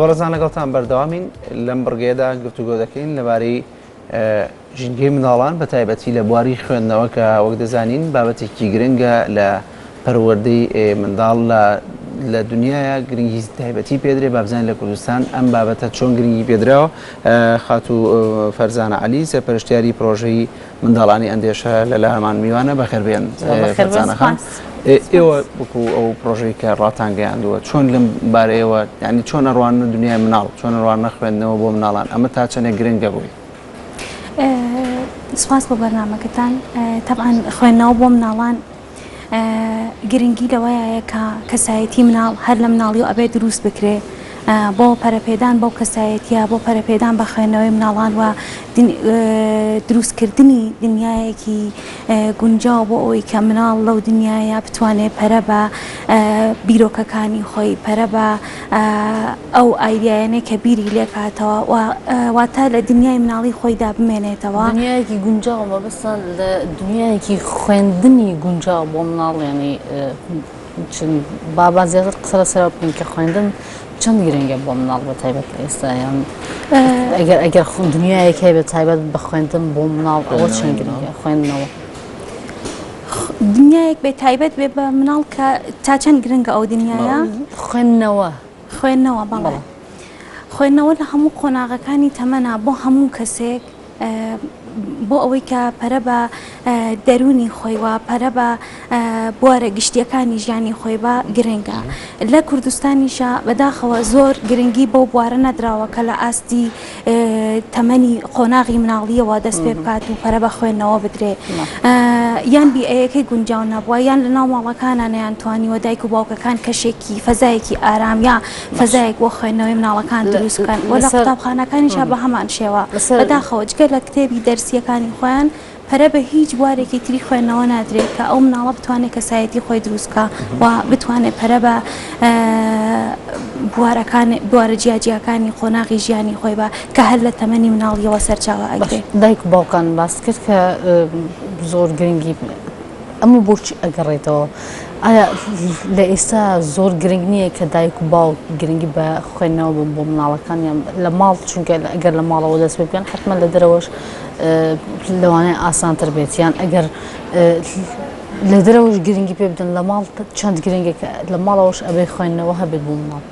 بەڕێزان لەگەڵتان بەردەوامین لەم بڕگەیەدا گفتوگۆ دەکەین لەبارەی ژینگەی منداڵان بە تایبەتی لە بواری خوێندنەوە کە وەک دەزانین بابەتێکی گرنگە لە پەروەردەی منداڵ لە لە دنیاە گرنگی تایبەتی پێدرێ بابزان لە کوردستان ئەم بابەتە چۆن گرنگی پێدراوە خاتو فەرزانە علی سەرپەرشتیاری پرۆژەی منداڵانی ئەندێشە لە لامان میوانە بەخێر بێن فەرزانەخان ئێوە بکو ئەو پرۆژەی کە ڕاتان گەیاندووە چۆن لەم بارەیەوە ینی چۆن ئەڕوان دنیای مناڵ چۆن ڕوان نەخوێندنەوە بۆ مناڵان ئەمە تا چەندێک گرنگە بووی سپاس بۆ بەرنمەکەتان تەعاان خوێندنەوە بۆ مناڵان گرنگی لەوەیە کە کەسایەتی مناڵ هەر لە مناڵیەوە ئەبێت دروست بکرێ بۆ پەرەپێدان بەو کەسایەتیە بۆ پەرەپێدان بە خوێندنەوەی مناڵان و دروستکردنی دنیایەکی گونجاو بۆ ئەوی کە مناڵ لەو دنیاە بتوانێت پەرە بە بیرۆکەکانی خۆی پەرە بە ئەو ئایدیایانەی کە بیری لێکاتەوە و واتە لە دنیای مناڵی خۆیدا بمێنێتەوە. دنیایەکی گونجاو مەبەستە لە دنیایەکی خوێندنی گونجاو بۆ مناڵ یانی با زیاتر قسە لەسەرەوە بکەین کە خوێندن چەند گرنگە بۆ مناڵ بە تایبەت لە ئێستا یان ئەگەر ئەگەر دنیایەک هەیە بە تایبەت بە خوێندن بۆ مناڵ ئەوە چەند گرنگە خوێندنەوە. دنیایەک بێ تایبەت بێ بە مناڵ کە تا چەند گرنگە ئەو دنیاە خوێندنەوە خوێندنەوە بەڵێ خوێندنەوە لە هەموو قۆناغەکانی تەمەنا بۆ هەموو کەسێک بۆ ئەوەی کە پەرە بە دەرونی خۆی وە پەرە بە بوارە گشتیەکانی ژیانی خۆی بە گرنگە لە کوردستانیشە بەداخەوە زۆر گرنگی بۆ بوارە نەدراوە کە لە ئاستی تەمەنی قۆناغی مناڵییەوە دەست پێ بکات و پەرە بە خوێندنەوە بدرێ یان بیئەیەکەی گونجاو نەبووە یان لە ناو ماڵەکانە نیان توانیوە دایک و باوکەکان کەشێکی فەزایەکی ئارام یا فەزایەک بۆ خوێندنەوەی مناڵەکان دروست بکەن وە لە قوتابخانەکانیشا بە هەمان شێوە بەداخەوە جگە لە کتێبی دەرسیەکانی خۆیان پەرە بە هیچ بوارێکی تری خوێندنەوە نادرێت کە ئەو مناڵە بتوانێت کەسایەتی خۆی دروست بکا و بتوانێت پەرە بە بوارە جیاجیاکانی قۆناغی ژیانی خۆی بە کە هەر لە تەمەنی مناڵیەوە سەرچاوە ئەگرێ دایک و باوکان باس کرد کە زۆر گرنگی ئەمە بۆچی ئەگەڕێتەوە ئایا لە ئێستا زۆر گرنگ نییە کە دایک و باوک گرنگی بە خوێندنەوە بۆ مناڵەکانیان لە ماڵ چونکە ئەگەر لە ماڵەوە دەست پێ بکەن حتممە لە دەرەوەش لەوانەیە ئاسانتر بێت یان ئەگەر لە دەرەوەش گرنگی پێ بدەن لە ماڵ چەند گرنگێک لە ماڵەوەش ئەبێ خوێندنەوە هەبێت بوو ماڵ.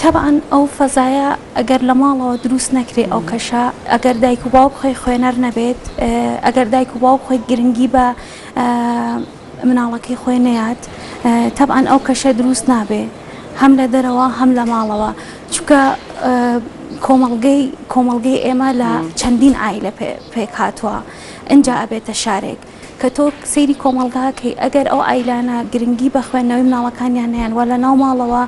تەبعاان ئەو فەزایە ئەگەر لە ماڵەوە دروست نەکرێ ئەو کەشە ئەگەر دایک و باوک خۆی خوێنەر نەبێت ئەگەر دایک و باوک خۆی گرنگی بە مناڵەکەی خۆی نەیات تەبعەن ئەو کەشە دروست نابێ هەم لە دەرەوە هەم لە ماڵەوە چکە کۆمەڵگەی کۆمەڵگەی ئێمە لە چەندین ئایلە پێک هاتووە ئەجا ئەبێتە شارێک کە تۆ سەیری کۆمەلگاکەی ئەگەر ئەو ئایلانە گرنگی بە خوێندنەوەی مناڵەکانیان نیان وە لە ناو ماڵەوە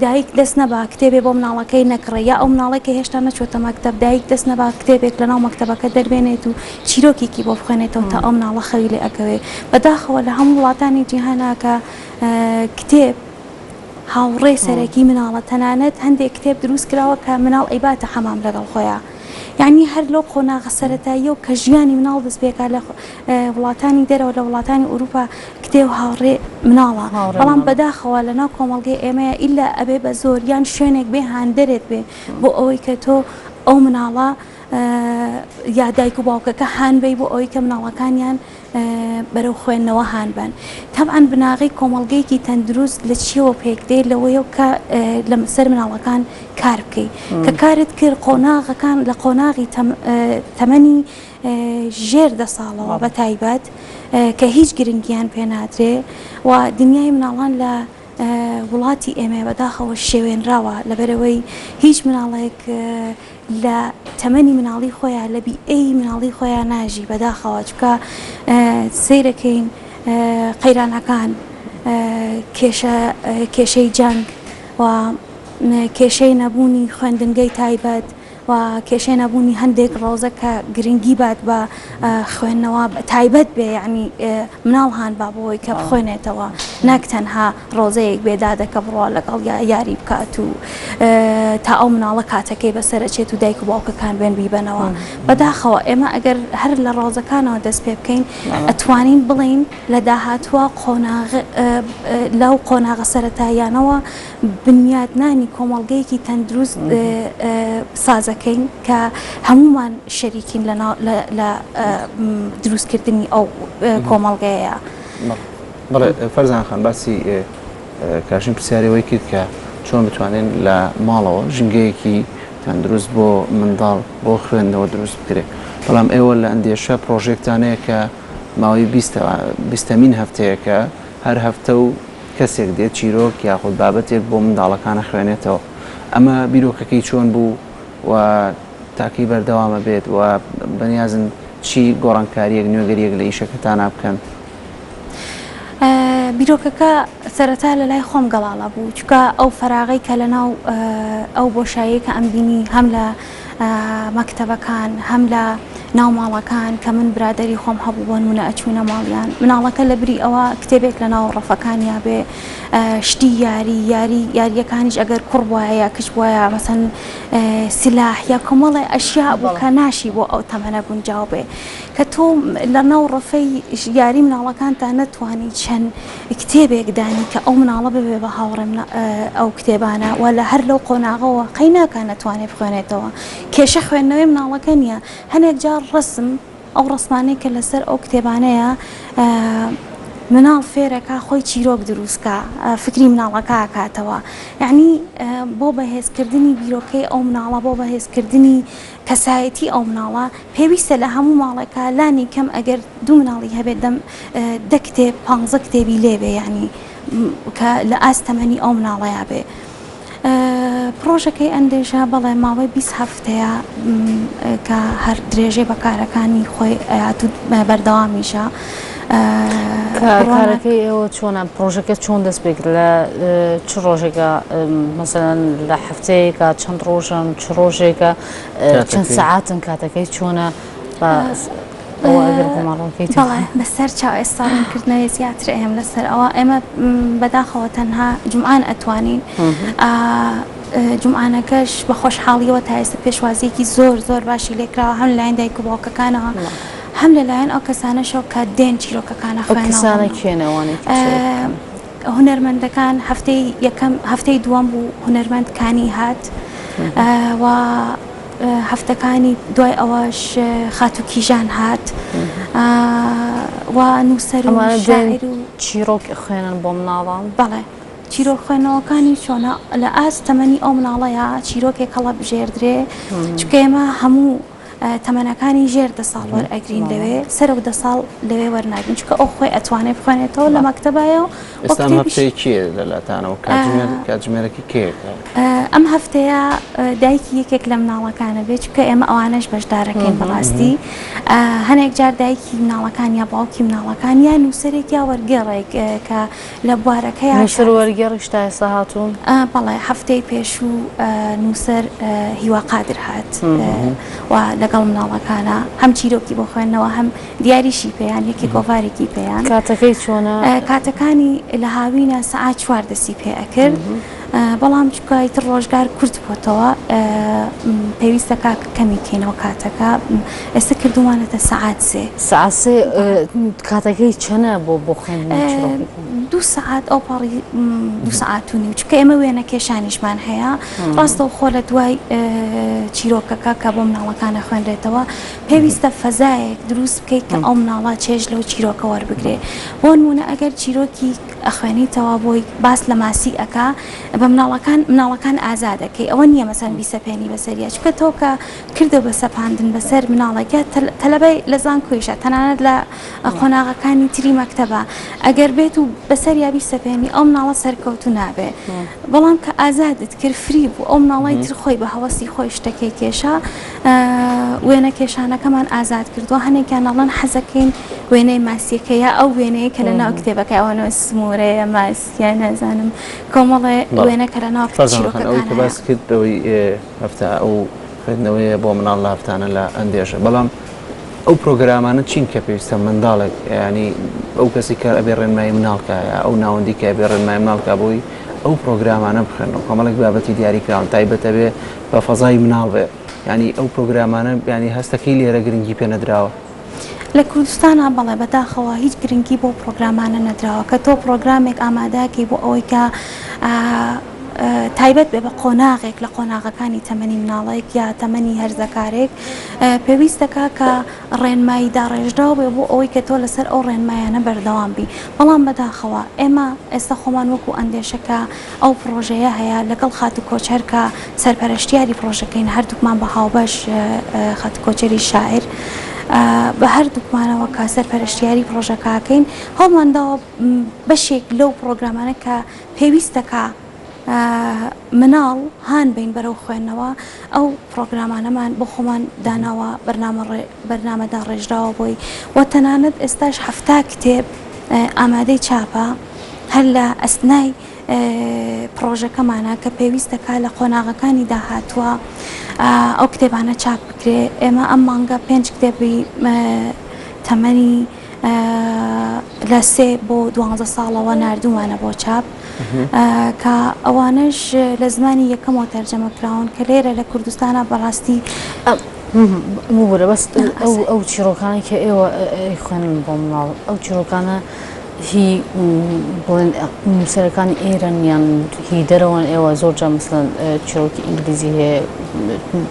دایک دەست نەبا کتێبێ بۆ مناڵەکەی نەکڕێ یا ئەو مناڵەی کە هێشتا نەچۆتە مەکتەب دایک دەست نەبا کتێبێک لە ناو مەکتەبەکە دەربێنێت و چیرۆکێکی بۆ بخوێنێتەوە تا ئەو مناڵە خەوی لێ ئەکەوێ بە داخەوە لە هەموو وڵاتانی جیهانا کە کتێب هاوڕێ سەرەکی مناڵە تەنانەت هەندێک کتێب دروست کراوە کە مناڵ ئەیباتە حەمام لەگەڵ خۆیا یانی هەر لەو قۆناغە سەرەتاییەو کە ژیانی مناڵ دەست پێکا لە وڵاتانی دەرەوە لە وڵاتانی ئوروپا کتێ و هاوڕێ مناڵە بەڵام بەداخەوە لە ناو کۆمەڵگەی ئێمەیە ئیلا ئەبێ بە زۆر یان شوێنێک بێ هاندەرێک بێ بۆ ئەوەی کە تۆ ئەو مناڵە یا دایک و باوکەکە هانبەی بۆ ئەوەی کە مناڵەکانیان بەرەو خوێندنەوە هانبن تەبعاان بناغی کۆمەڵگەیەکی تەندروست لە چیەوە پێک دێ لەوەیە کە لە سەر مناڵەکان کار بکەیت کە کارت کرد قۆناغەکان لە قۆناغی تەمەنی ژێر دە ساڵەوە بە تایبەت کە هیچ گرنگیان پێ نادرێ و دنیای مناڵان لە وڵاتی ئێمە بە داخەوە شێوێنراوە لەبەرئەوەی هیچ مناڵێک لە تەمەنی مناڵی خۆیان لە بیئەی مناڵی خۆیان ناژی بە داخەوە چونکە سەیرەکەین قەیرانەکان کێشە کێشەی جەنگ و کێشەی نەبوونی خوێندنگەی تایبەت و کێشەی نەبوونی هەندێک ڕەوزە کە گرنگی بات بە خوێندنەوە تایبەت بێ یعنی مناڵ هان با بۆی کە بخوێنێتەوە نەک تەنها ڕۆزەیەک بێ دادەکە بڕوا لەگەڵ یا یاری بکات و تا ئەو مناڵە کاتەکەی بەسەرچێت و دایک و باوکەکان بێن بیبەنەوە بەداخەوە ئێمە ئەگەر هەر لە ڕۆزەکانەوە دەست پێ بکەین ئەتوانین بڵین لە داهاتوە قۆناغ لەو قۆناغە سەرەتاییانەوە بنیاتنانی کۆمەڵگەیەکی تەندروست سازەکەین کە هەموومان شەریکین لە دروستکردنی ئەو کۆمەڵگەیە. بەڵێ فەرزان خان باسی کاشین پرسیاری ئەوەی کرد کە چۆن بتوانین لە ماڵەوە ژینگەیەکی تەندروست بۆ منداڵ بۆ خوێندنەوە دروست بکرێ بەڵام ئێوە لە ئەندێشە پرۆژێکتانەیە کە ماوەی بیستەمین هەفتەیەکە هەر هەفتە و کەسێک دێت چیرۆک یاخود بابەتێک بۆ منداڵەکان ئەخوێنێتەوە ئەمە بیرۆکەکەی چۆن بوو و تا کەی بەردەوام ئەبێت و بەنیازن چی گۆڕانکارییەک نوێگەرییەک لە ئیشەکەتانا بکەن؟ بیرۆکەکە سەرەتا لە لای خۆم گەڵاڵە بوو چونکە ئەو فەراغەی کە لەناو ئەو بۆشاییەی کە ئەمبینی هەم لە مەکتەبەکان هەم لە ناو ماڵەکان کە من برادەری خۆم هەبوو بۆنمونە ئەچوینە ماڵیان مناڵەکە لە بری ئەوە کتێبێک لە ناو ڕەفەکانیا بێ شتی یاری یاری یاریەکانیش ئەگەر کوڕ وایە کچ وایە مەسەن سلاح یا کۆمەڵێ ئەشیا بوو کە ناشی بۆ ئەو تەمەە گونجاو بێ کە تۆ لە ناو ڕەفەی یاری مناڵەکانتان نەتوانی چەند کتێبێک دانی کە ئەو مناڵە ببێ بە هاوڕێم ئەو کتێبانە وە لە هەر لەو قۆناغەوە قەی ناکا نەتوانێ بخوێنێتەوە کێشە خوێندنەوەی مناڵەکە نیە هەنێک جار ڕەسم ئەو ڕەسمانەی کە لەسەر ئەو کتێبانەیە مناڵ فێرەکا خۆی چیرۆک دروستکە فکری مناڵەکە کاتەوە یعنی بۆ بەهێزکردنی بیرۆکەی ئەو مناڵە بۆ بەهێزکردنی کەسایەتی ئەو مناڵە پێویستە لە هەموو ماڵێکا لانی کەم ئەگەر دوو مناڵی هەبێت دە دە کتێب پانزە کتێبی لێ بێ یانی کە لە ئاست تەمەنی ئەو مناڵەیا بێ پرۆژەکەی ئەندێژە بەڵێ ماوەی بیست هەفتەیە کە هەر درێژەی بە کارەکانی خۆی ئەیات و بەردەوامیشە. کارەکەی ئێوە چۆنە پرۆژەکە چۆن دەست پێک لە چ ڕۆژێکە مەسەن لە هەفتەیەکە چەند ڕۆژن چ ڕۆژێکە چەند سعاتن کاتەکەی چۆنە بەسەر چاو ئێستاکردنەوەی زیاتر ئەم لەسەر ئەوە ئێمە بەداخەوە تەنها جمعان ئەتوانین جمعانەکەش بە خۆشحاڵیەوە تا ئێستا پێشوازیەکی زۆر زۆر باشی لێکراوە هەم لایەن دایک و باوکەکانەوە. هەم لە لایەن ئەو کەسانەشەوە کە دێن چیرۆکەکانە ئەو خوێندنەوە کەسانە بکەنەوە. کێن ئەوانەی کە چیرۆک بکەن؟ ئە، هونەرمەندەکان هەفتەی یەکەم، هەفتەی دووەم بوو هونەرمەند کانی هات و هەفتەکانی دوای ئەوەش خاتوو کیژان هات و نووسەر و ئەمانە دێن شاعیر و. چیرۆک ئەخوێنن بۆ مناڵان؟ بەڵێ. چیرۆک خوێندنەوەکانی چۆنە؟ لە ئاست تەمەنی ئەو مناڵەیا چیرۆکێک هەڵەبژێردرێ، چونکە ئێمە هەموو. تەمەنەکانی ژێر دە ساڵ وەرئەگرین لەوێ سەرۆک دە ساڵ لەوێ وەرناگرین چونکە ئەو خۆی ئەتوانێ بخوێنێتەوە لە مەکتەبایە و ئێستا هەفتەی کێ لەلاتانەوە کاتژمێر کاتژمێرەکی کێیەکە ئەم هەفتەیە دایکی یەکێک لە مناڵەکانە بێت چونکە ئێمە ئەوانەش بەشدارەکەین بەڕاستی هەنێک جار دایکی مناڵەکان یا باوکی مناڵەکان یا نووسەرێک یا وەرگێڕێک کە لە بوارەکەیا کار. نووسەر و وەرگێڕیش تا ئێستا هاتوون؟ بەڵێ، هەفتەی پێشوو نووسەر هیوا قادر هات و لەگەڵ مناڵەکانا هەم چیرۆکی بۆ خوێندنەوە هەم دیاریشی پێیان یەکێ گۆڤارێکی پێیان. کاتەکەی چۆنە؟ کاتەکانی لە هاوینە سەعات چوار دەستی پێ ئەکرد بەڵام چونکە ئیتر ڕۆژگار کورت بۆتەوە پێویستە کاک کەمی کەینەوە کاتەکە ئێستا کردومانەتە سەعات سێ سەعات سێ کاتەکەی چەنە بۆ بۆ خوێندن دوو سەعات ئەو پاڕی دوو سەعات و نیو چکە ئێمە وێنە کێشانیشمان هەیە ڕاستەوە خۆ لە دوای چیرۆکەکە کە بۆ مناڵەکانە خوێنرێتەوە پێویستە فەزایەک دروست بکەیت کە ئەو مناڵە چێژ لەو چیرۆکە وەربگرێ بۆ نمونە ئەگەر چیرۆکی ئەخوێنیتەوە بۆی باس لە ماسی ئەکا بە مناڵەکان مناڵەکان ئازادە کەی ئەوە نییە مەسەن بیسەپێنی بەسەریا چکە تۆ کە کردە بە سەپاندن بەسەر مناڵێکە تەلەبەی لە زان کوێشە تەنانەت لە قۆناغەکانی تری مەکتتەبە ئەگەر بێت و بەسەر یابی سەپێنی ئەو مناڵە سەرکەوتو نابێ بەڵام کە ئازادت کرد فری بوو ئەو مناڵی تر خۆی بە هەوەسی خۆی شتەکەی کێشا وێنەکێشانەکەمان ئازاد کردووە، هەنێکیان ئەڵێن حەزەکەین وێنەی ماسیەکە یا ئەو وێنەیە کە لە ناو کتێبەکە ئەوانەوە سمورەیە ماسیە نازانم کۆمەڵێ وێنە کە لە ناو باسکردەوەی هەفتا ئەو خوێندنەوەیە بۆ مناڵ لە هەفتانە لە ئەندێشە بەڵام ئەو پرۆگرامانە چین کە پێویستە منداڵێک ینی ئەو کەسی کار ئەبێ ڕێنمای مناڵکایە ئەو ناوەندی کە بێ ڕێنمای مناڵکە بۆی ئەو پرۆگرامانە بخێنەوە کۆمەڵک بابەتی دیاریکراون تایبەتەبێ بە فەزای مناڵ بێ یانی ئەو پرۆگرامانە یانی هەستەکەی لێرە گرنگی پێ نەدراوە؟ لە کوردستانا بەڵێ بەداخەوە هیچ گرنگی بەو پرۆگرامانە نەدراوە کە تۆ پرۆگرامێک ئامادەکەی بۆ ئەوەی کە تایبەت بێ بە قۆناغێک لە قۆناغەکانی تەمەنی مناڵێک یا تەمەنی هەرزەکارێک پێویستەکە کە ڕێنمایی داڕێژراو بێ بۆ ئەوەی کە تۆ لەسەر ئەو ڕێنمایانە بەردەوام بی بەڵام بەداخەوە ئێمە ئێستا خۆمان وەکو ئەندێشەکە ئەو پڕۆژەیە هەیە لەگەڵ خاتوو کۆچەر کە سەرپەرەشتیاری پڕۆژەکەین هەردووکمان بە هاوبەش خاتوو کۆچەری شاعیر بە هەردووکمانەوە کە سەرپەرشتیاری پڕۆژەکەکەین هەڵمانداوە بەشێک لەو پڕۆگرامانە کە پێویستەکە مناڵ هان بین بەرەو خوێندنەوە ئەو پڕۆگرامانەمان بۆ خۆمان داناوە بەرنامە بەرنامەدا ڕێژراوە بۆی و تەنانەت ئێستاش حەفتا کتێب ئامادەی چاپە. هەر لە ئەسنای پڕۆژەکەمانە کە پێویست دەکات لە قۆناغەکانی داهاتووە ئەو کتێبانە چاپ بکرێ ئێمە ئەم مانگە پێنج کتێبی تەمەنی لە سێ بۆ دوانزە ساڵەوە نردومانە بۆ چاپ کە ئەوانش لە زمانی یەکەمەوە تەرجەمە کراون کە لێرە لە کوردستانە بەڕاستی بەست ئەو چیرۆکانی کە ئێوە خوێنن بۆ مناڵ ئەو چیرۆکانە هی بڵێن نووسەرەکانی ئێرەن یان هی دەرەوەن ئێوە زۆر جا مثلەن چیرۆکی ئینگلیزی هەیە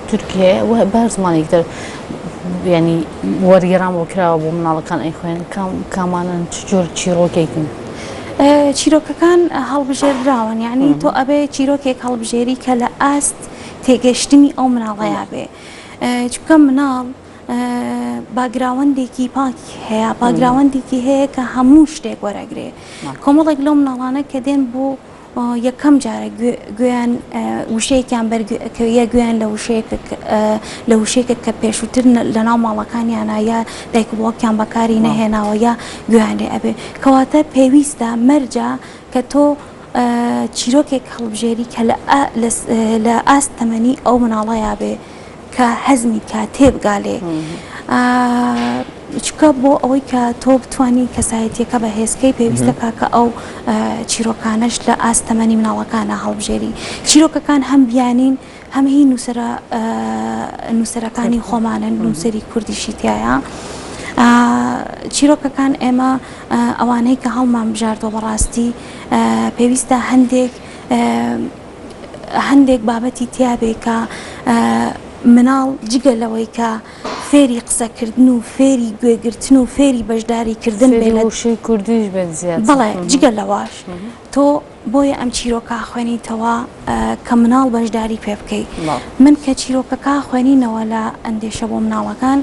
تورکی هەیە و بار زمانێک دەر ینی وەرگێران بۆ کراوە بۆ مناڵەکان ئەی خوێن کامانن چجۆر چیرۆکێکن چیرۆکەکان هەڵبژێردراون یعنی تۆ ئەبێ چیرۆکێک هەڵبژێری کە لە ئاست تێگەشتنی ئەو مناڵەیە بێ چکە مناڵ باگراوەندێکی پاکی هەیە باگراوەندێکی هەیە کە هەموو شتێک وەرەگرێ کۆمەڵێک لەو مناڵانە کە دێن بۆ یەکەم جارە گوێیان وشەیەکیان بەرکەویە گوێیان لە لە وشێکت کە پێشووتر لە ناو ماڵەکانیانە یا دایک بڵۆکیان بەکاری نەهێناوە یا گویان لێ ئەبێ کەواتە پێویستە مەرجە کە تۆ چیرۆکێک هەڵبژێری کە لە ئاست تەمەنی ئەو مناڵەیە بێ کە هەزمی کا تێبگالێ چکە بۆ ئەوەی کە تۆ بتانی کەسایەتیەکە بە هێزکەی پێویستە کاکە ئەو چیرۆکانش لە ئاستەمەنی مناڵەکانە هەڵبژێری چیرۆکەکان هەم بیانین هەم هی نووسرە نووسەرەکانی خۆمانە نووسری کوردیشی تایە. چیرۆکەکان ئێمە ئەوانەی کە هەڵمان بژاردۆ بەڕاستی پێویستە هەندێک هەندێک بابەتی تیابێ کە مناڵ جگە لەوەی کە فێری قسە کردن و فێری گوێ گرتن و فێری بەشداری کردن بێ لە وشەی کوردیش بێت زیاد بڵێ جگە لەواش تۆ بۆیە ئەم چیرۆکە خوێنیتەوە کە مناڵ بەشداری پێ بکەیت من کە چیرۆکەکە خوێنینەوە لە ئەندێشە بۆ مناڵەکان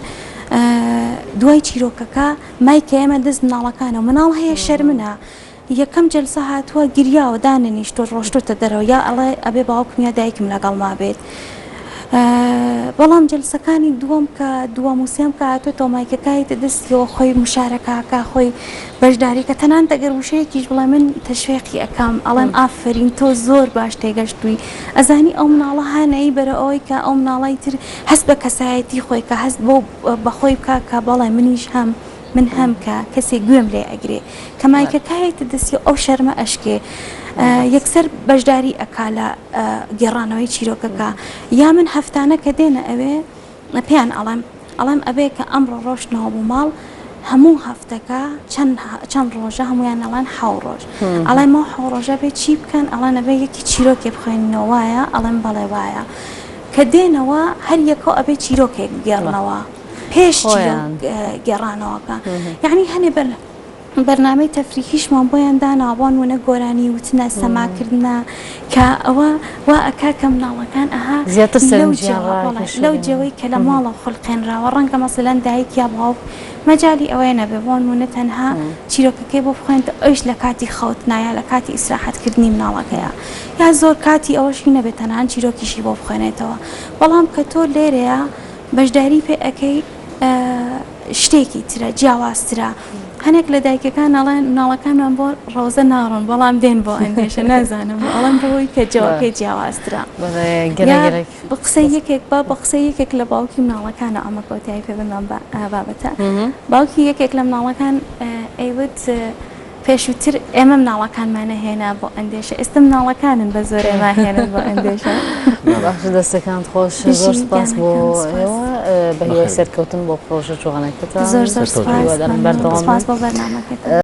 دوای چیرۆکەکە مای کە ئێمە دەست مناڵەکانە مناڵ هەیە شەرمنە یەکەم جەلسە هاتوە گریاوە دانەنیشتوە ڕۆشتۆتە دەرەوە یا ئەڵێ ئەبێ باوکم یا دایکم لەگەڵما بێت بەڵام جەلسەکانی دووەم کە دووەم و سێم کە هاتۆتەوە مایکەکایتە دەستیەوە خۆی مشارەکەکە خۆی بەشداریکە تەنانەت ئەگەر وشەیەکیش بڵێ من تەشوێقی ئەکەم ئەڵێم ئافەرین تۆ زۆر باش تێگەشتووی ئەزانی ئەو مناڵە هانایی بەرە ئەوەی کە ئەو مناڵی تر هەست بە کەسایەتی خۆی کە هەست بۆ بەخۆی بکە کە بەڵێ منیش هەم من هەم کە کەسێ گوێم لێ ئەگرێ کە مایکە کایەتە دەستی ئەو شەرمە ئەشکێ یەکسەر بەشداری ئەکا لە گێڕانەوەی چیرۆکەکە یا من هەفتانە کە دێنە ئەوێ پێیان ئەڵێم ئەڵێم ئەبێ کە ئەمڕۆ ڕۆشتنەوە بوو ماڵ هەموو هەفتەکە چەند ڕۆژە هەمویان ئەڵان حاو ڕۆژ ئەڵێ مە حاو ڕۆژە بێ چی بکەن ئەڵانە بێ یەکی چیرۆکێ بخوێنەوە وایە ئەڵێم بەڵێ وایە کە دێنەوە هەر یەکەو ئەبێ چیرۆکێک گێڕنەوە. پێش چیرۆ گێڕانەوەکە یعنی هەنێ بەر بەرنامەی تەفریحیشمان بۆیان داناوان وە نەگۆرانی وتنە سەماکردە کە ئەوە وا ئەکا کە مناڵەکان ئەها زیاتر لەو جەوەی کە لە ماڵە خولقێنراوە ڕەنگە مەسەلەن دایک یا باوک مەجای ئەوەیە نەبێ بۆن وە نەتەنها چیرۆکەکەی بۆ بخوێنت ئەوش لە کاتی خەوت نایە لە کاتی ئیسراحەتکردنی مناڵەکەیە یا زۆر کاتی ئەوەشی نەبێت تەنان چیرۆکیشی بۆ بخوێنێتەوە بەڵام کە تۆ لێرەیە بەشداری پێ ئەکەی شتێکی ترە جیاوازترە هەنێک لە دایکەکان ئەڵێن مناڵەکانمان بۆ ڕۆزە ناڕۆن بەڵام دێن بۆ ئەندێشە نازانم ئەڵم بۆی کە جوابکەی جیاوازترە بە قسە یەکێک با بە قسە یەکێک لە باوکی مناڵەکان و ئەمە کۆتایی پێ بمان بابەتە باوکی یەکێک لە مناڵەکان ئەیوت پێشووتر ئێمە مناڵەکانمان نەهێنا بۆ ئەندێشە ئێستا مناڵەکانن بە زۆر ئێمە هێنن بۆ ئەندێشە. بەخش دەستەکانت خۆش زۆر سپاس بۆ ئێوە بە هیوای سەرکەوتن بۆ پڕۆژە جوانەکەتان زۆر زۆر سپاس بەردەوام بن.